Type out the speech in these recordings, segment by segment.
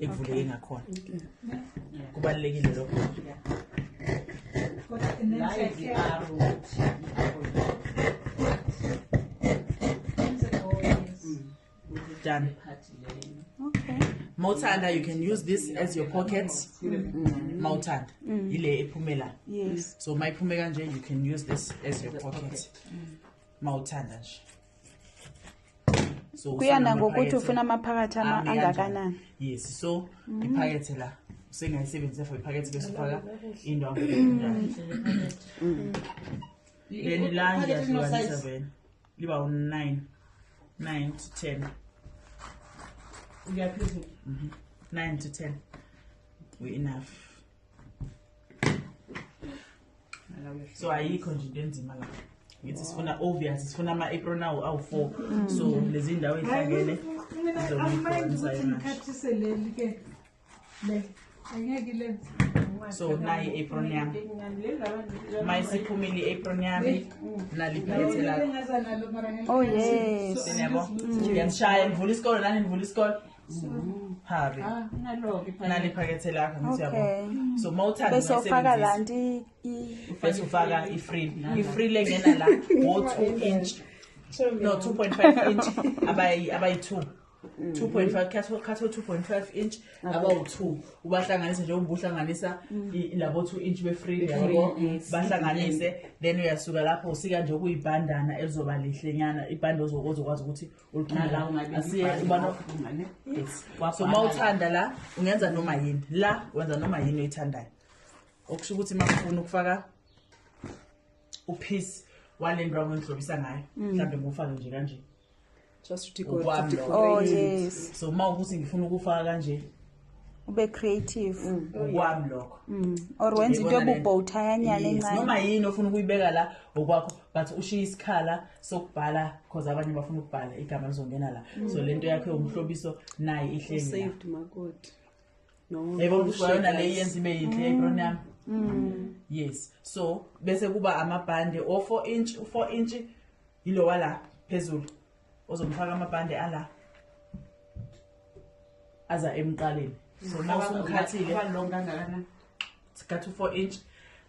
ikuvuleke ngakhona kubalulekile lokho done okay mawuthanda you can use this as your pocket mawuthanda mm. yile ephumela so mayiphume kanje you can use this as your pocket mawuthanda nje so kuya nangokuthi ufuna amaphakathi ama angakanani yes so mm. iphakethe la usengayisebenzisa for iphakethe bese ufaka into mm. mm. then la ngiyahlukanisa vele liba u-nine nine to ten uyaphezulu mhm. nine to ten we enough so ayikho nje into enzima la ngithi sifuna obvious sifuna ama-apron awo awu-four mm. so lezi ndawo ey'hlangene so nayi i-apron yami ma isiphumile i-apron yami naliphethe lakho oh yes siyabo mm. ngiyangishaya nivula isikole nani nivula isikole Harry. Ah, nalo ke phakathi. Nali phakethe lakho ngithi yabo. So mawuthanda bese ufaka la nti bese ufaka ifree. Ifree lengena la wo 2 inch. No 2.5 inch abayi abayi 2. 2.5 khatho khatho 2.5 inch abawu 2 ubahlanganise nje ubuhlanganisa mm. labo 2 inch be free yabo bahlanganise then uyasuka lapho usika nje kuyibandana elizoba lihle nyana ibhande ozokwazi ukuthi so uma uthanda la ungenza noma yini la wenza noma yini oyithandayo okusho ukuthi uma ufuna ukufaka uphisi wale nto akwengidlobisa ngayo mm. mhlawumbe ngufake nje kanje just to oh, yes. so uma ukuthi ngifuna ukufaka kanje ube creative ngokwami mm. lokho mm. or wenza into ebubhowuthayanyana encane noma yini ofuna ukuyibeka la ngokwakho but ushiye isikhala sokubhala cause abanye bafuna ukubhala igama lizongena la mm. so lento yakho yomhlobiso naye ihleli saved makoti no yebo kushona le yenza ibe yinhle ebron yami yes so bese kuba amabhande o 4 inch u 4 inch yilowa la phezulu ozomfaka amabhande ala aza emqaleni so uma usumkhathile sikhathi u-four inch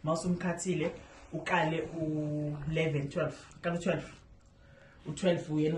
uma usumkhathile uqale u-eleven twelve qale u-twelve u-twelve uyena